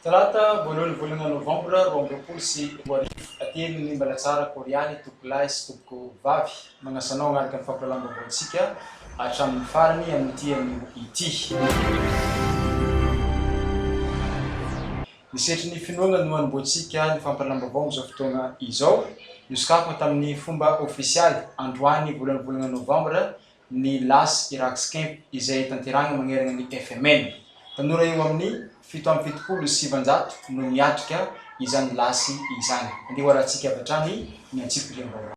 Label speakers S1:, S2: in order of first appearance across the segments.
S1: Talata voalohan'ny volana novambra roa amby roapolo sy roa arivo, Atelin' ny Mbalatsara Kôrialy, Tompoko lahy sy Tompoko vavy, magnasa anao hagnaraka ny fampahalalam-baovaontsika hatramin'ny farany amin'ity anio ity. Ny setry ny finoana no anombohantsika ny fampahalalam-baovao amin'izao fotoana izao. Nosokafana tamin'ny fomba ofisialy, androany voalohan'ny volana novambra, ny Las Iraq's Camp izay tanterahina manerana ny FMN. Tanora eo amin'ny fito amby fitopolo sy sivinjato no miatrika izany lasy izany. Andeha hoarahantsika avy hatrany ny antsipiriam-baovao.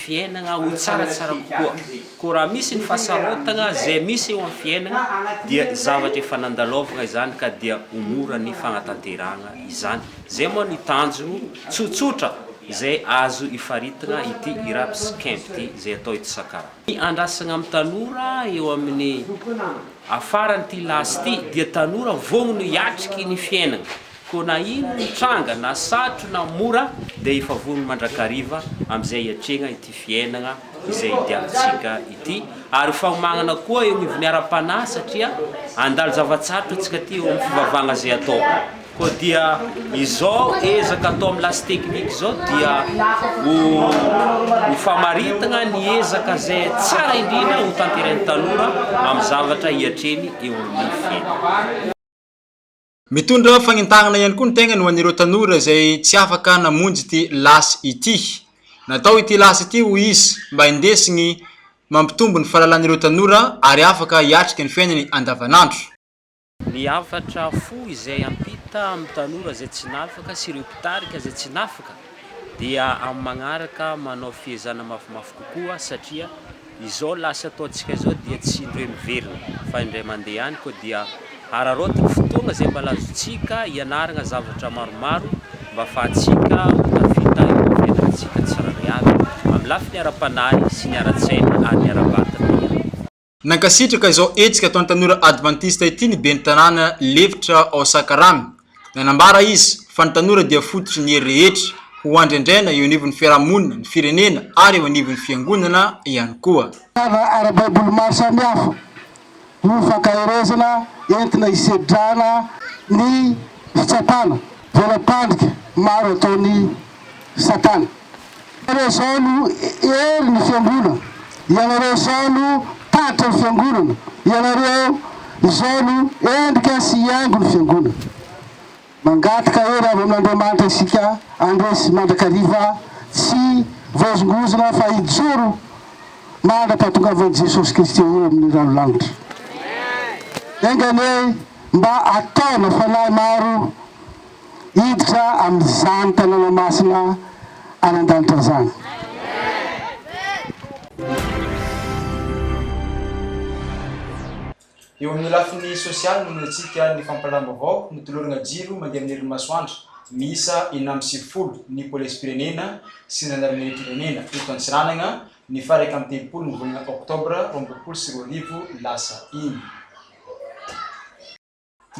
S2: fiainana ho tsaratsara kokoa. Koa raha misy ny fahasarotana izay misy eo amin'ny fiainana dia zavatra efa nandalaovina izany ka dia ho mora ny fanatanterahana izany. Izay moa ny tanjona tsotsotra izay azo ifaritina ity Irap's Camp ity izay atao eto Sakara. Ny andrasana amin'ny tanora eo amin'ny afaran'ity lasy ity dia tanora vonona hiatriky ny fiainana. Koa na ino ny tranga, na satro na mora, dia efa vonona mandrakariva amin'izay hiatrehana ity fiainana izay idiavantsika ity, ary ho fahomagnana koa eo anivon'ny ara-panahy, satria handalo zava-tsarotra antsika aty eo amin'ny fivavahana izay atao. Koa dia izao ezaka atao amin'ny lasy teknika izao dia ho ho famaritana ny ezaka izay tsara indrindra ho tanterahin'ny tanora amin'ny zavatra hiatrehiny eo amin'ny fiainany.
S1: Mitondra fagnentahana ihany koa ny tegnany ho an'ireo tanora izay tsy afaka namonjy ity lasy ity. Natao ity lasy ity hoy izy mba hindesigny mampitombo ny fahalalan'ireo tanora ary afaka hiatrika ny fiainany andavanandro. Ny
S2: hafatra fohy izay hampita amin'ny tanora izay tsy nafaka sy ireo mpitarika izay tsy nafaka dia amin'ny magnaraka manao fiezana mafimafy kokoa satria, Izao lasa ataontsika izao dia tsy indroe miverina fa indray mandeha ihany koa dia hararaotina fotoagna izay mba lazontsika hianaragna zavatra maromaro mba afahantsika ho tafita eo amin'ny fiainantsika tsirairay avy amin'ny lafiny ara-panahy sy ny ara-tsaina ary ny ara-batagna ihany koa.
S1: Nankasitraka izao hetsika ataon'ny tanora advantista ity ny ben'ny tanàna lefitra ao Sakaramy, Nanambara izy fa ny tanora dia fototry ny hery rehetra ho andrendrena eo anivon'ny fiarahamonina, ny firenena ary eo anivon'ny fiangonana ihany koa. Tana ara-baiboly
S3: maro samihafa no fankaherezana entina hisedrana ny fitsapana voalapandrika maro ataon'i Satana. Ianareo izao no hery ny fiangonana, ianareo izao no tatitra ny fiangonana, ianareo izao no endrika sy haingo ny fiangonana. Mangataka hery avy amin'Andriamanitra isika handresy mandrakariva tsy voahozongozona fa hijoro mandra-pahatongavan'i Jesosy Kristy eo amin'ny rano lanitra. Enga anie mba ataona fanahy maro hiditra amin'izany tanàna masina any an-danitra izany.
S1: Eo amin'ny lafiny sosialy, manoloantsika ny fampahalalam-baovao notolorana jiro mandeha amin'ny herin'ny masoandro miisa enina amby sivifolo ny Polisim-pirenena sy ny Zandarimeriam-pirenena eto Antsiranana ny faha iraika amby telopolo ny volana oktobra roa amby roapolo sy roa arivo lasa iny.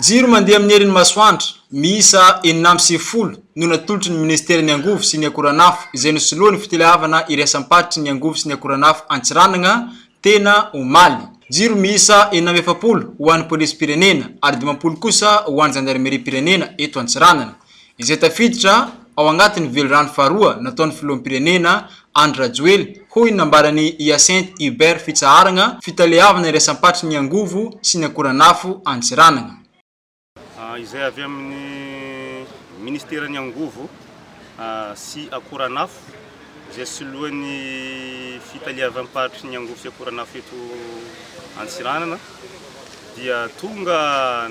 S1: Jiro mandeha amin'ny herin'ny masoandro miisa enina amby sivifolo no natolotry ny Minisiteran'ny angovo sy ny akoranafo izay nosoloan'ny fiteleavana iraisam-paritry ny angovo sy ny akoranafo Antsiranana tena omaly. Jiro miisa enina amby efapolo ho an'ny Polisim-pirenena ary dimampolo kosa ho an'ny Zandarimeriam-pirenena eto Antsiranana. izay tafiditra ao anatin'ny velirano faharoa nataon'ny filoham-pirenena Andry Rajoely, hoy ny nambaran'i Hyacinthe Hubert Fitsaharagna fitaleavana iraisam-patry ny angovo sy ny akoranafo Antsiranana.
S4: Izay avy amin'ny ministeran'ny angovo sy akoranafo. izay soloan'ny fitaleavam-paritry ny angovo sy akoranafo eto Antsiranana dia tonga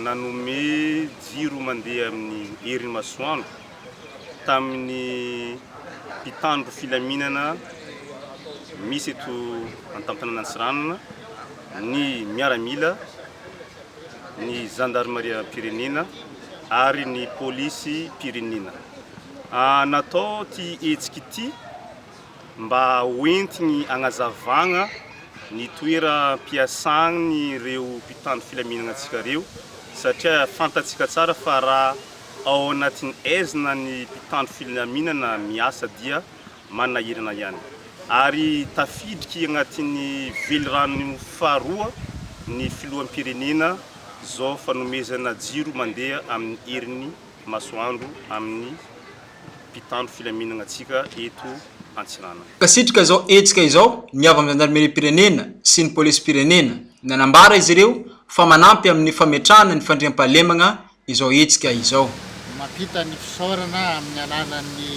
S4: nanome jiro mandeha amin'ny herin'ny masoandro tamin'ny mpitandro filaminana misy eto an-tamponan'Antsiranana ny miaramila ny zandarimariam-pirenena ary ny polisim-pirenena. Natao ity hetsika ity mba hoentiny hagnazavagna ny toeram-piasagny reo mpitandro filaminagna antsika reo satria fantatsika tsara fa raha ao agnatin'ny aizina ny mpitandro filaminana miasa dia manahirana ihany ary tafiditry anatin'ny velirano faharoa ny filoham-pirenena zo fanomezana jiro mandeha amin'ny herin'ny masoandro amin'ny mpitandro filaminana antsika eto Antsiranana. Kasitraka izao
S1: hetsika izao ny avy amin'ny zandarimeriam-pirenena sy ny polisim-pirenena. Nanambara izy ireo fa manampy amin'ny fametrahana ny fandriampahalemagna izao hetsika izao. Mampita ny
S5: fisaorana amin'ny alalan'ny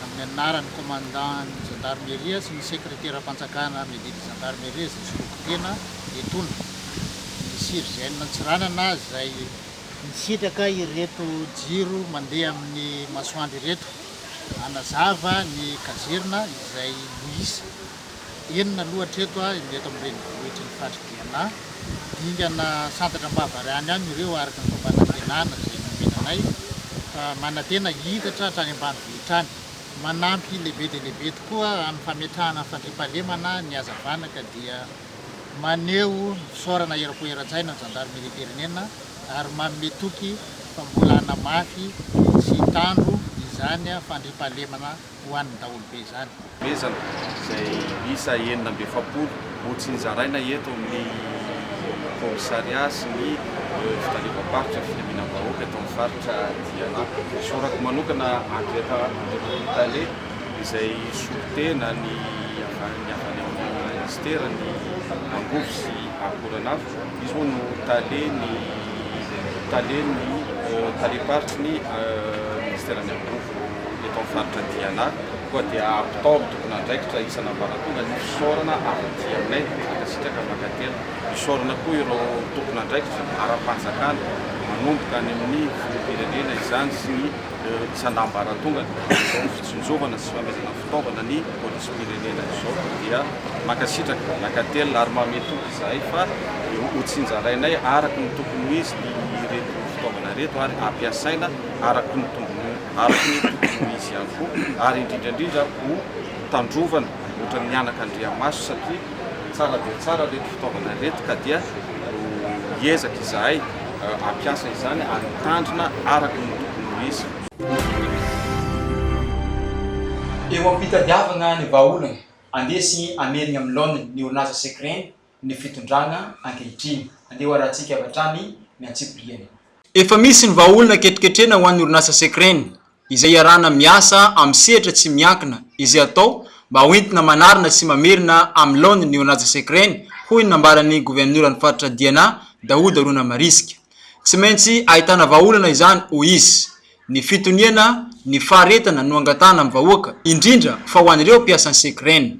S5: amin'ny anaran'ny Komandan'ny Zandarimeria sy ny Sekreteram-panjakana Medidy Zandarimeria izay soloky tena etona, ny CIRGN Antsiranana izay nisitraka ireto jiro mandeha amin'ny masoandro ireto hanazava ny kazerina izay nohisa. Enina aloha hatreto a, ny eto amin'ny renivohitry ny Fadry Diana. Dingana santatra am-bavahary any ihany ireo araka ny fomba nantenana izay nomena anay fa manantena hihitatra hatrany ambanivohitra any. Manampy lehibe dia lehibe tokoa amin'ny fametrahana ny fandriampahalemana ny hazavana ka dia maneho ny fisaorana eram-po eran-tsaina ny zandarimeriam-pirenena ary manome toky fa mbola hanamafy sy hitandro izany fandriampahalemana ho an'ny daholobe izany. Omezana
S6: izay isa enina amby efapolo ho tsinjaraina eto amin'ny kaomisaria sy ny fitaleovam-paritra filaminam-bahoaka eto amin'ny faritra Diana. Sorako manokana Andriaka Andriamatoa Tale izay solontena ny avy any amin'ny Minisitera ny Angovo sy Akoranafo. Izy moa no Talen'ny Talen'ny Talem-paritry ny Minisiteran'ny Angovo. eto amin'ny faritra Diana koa dia ampitao amin'ny tompon'andraikitra isan'ambaratonga ny fisaorana avy aty aminay dia mankasitraka mankaty fisaorana koa ireo tompon'andraikitra ara-panjakana manomboka any amin'ny filoham-pirenena izany sy ny isan'ambaratongany izao ny fitsinjovana sy famerana fitaovana ny polisim-pirenena izao dia mankasitraka mankaty ary mamehy toky izahay fa hotsinjarainay araka ny tokony ho izy ireto fitaovana ireto ary ampiasaina araka ny tombony araka ny tokony ho izy ihany koa, ary indrindra indrindra ho tandrovana ohatra ny mianaka andriamaso satria tsara dia tsara ireto fitaovana ireto ka dia hiezaka izahay hampiasa izany ary hitandrina araka ny tokony ho izy.
S1: Eo am-pitadiavana ny vahaolana handresy hamely ny amin'ny laoniny ny orinasa Secrene ny fitondrana ankehitriny. Andeha ho arahantsika avy hatrany ny antsipiriany. Efa misy ny vahaolana ketroketrena ho an'ny orinasa Secren, izay iarahana miasa amin'ny sehatra tsy miankina, izay atao mba ho entina manarina sy mamerina amin'ny laoniny ny orinasa Secren, hoy ny nambaran'ny governoran'ny faritra Diana, Daouda Ronamarisika. Tsy maintsy ahitana vahaolana izany, hoy izy. Ny fitoniana ny faharetana no angatahana amin'ny vahoaka, indrindra fa ho an'ireo mpiasan'ny Secren.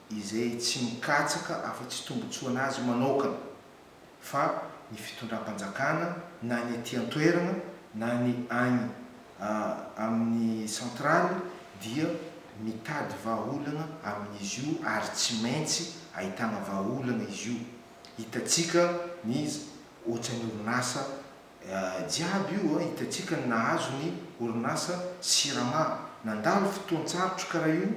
S7: izay tsy mikatsaka afa-tsy tombontsoan'azy manaokana, fa ny fitondram-panjakana na ny aty an-toerana na ny any amin'ny centrale dia mitady vahaolana amin'izy io ary tsy maintsy ahitana vahaolana izy io. Hitantsika ny ohatran'ny orinasa jiaby io hitantsika ny nahazo ny orinasa Sirama. Nandalo fotoan-tsarotra kara io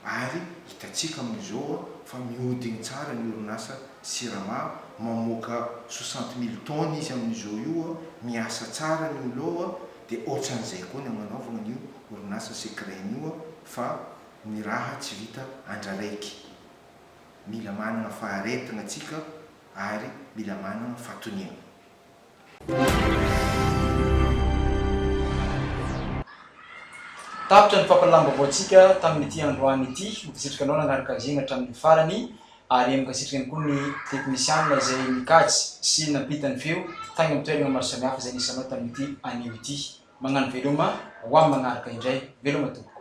S7: ary hitantsika amin'izao fa mihodigny tsara ny orinasa Sirama, mamoaka soixante mille tonnes izy amin'izao io, miasa tsara ny olo ao dia otran'izay koa ny agnanaovagna an'io orinasa Secraim io fa ny raha tsy vita andra raiky. Mila managna faharetagna tsika ary mila managna fatoniagna.
S1: Tapitra ny fampahalalam-baovaontsika tamin'ity androany ity. Mankasitraka anao nanara-kajina hatramin'ny farany ary mankasitraka ihany koa ny teknisianina izay nikajy sy nampita ny feo tany amin'ny toerana maro samihafa izay nisanao tamin'ity anio ity. Mañano veloma ho amin'ny manaraka indray. Veloma tompoko.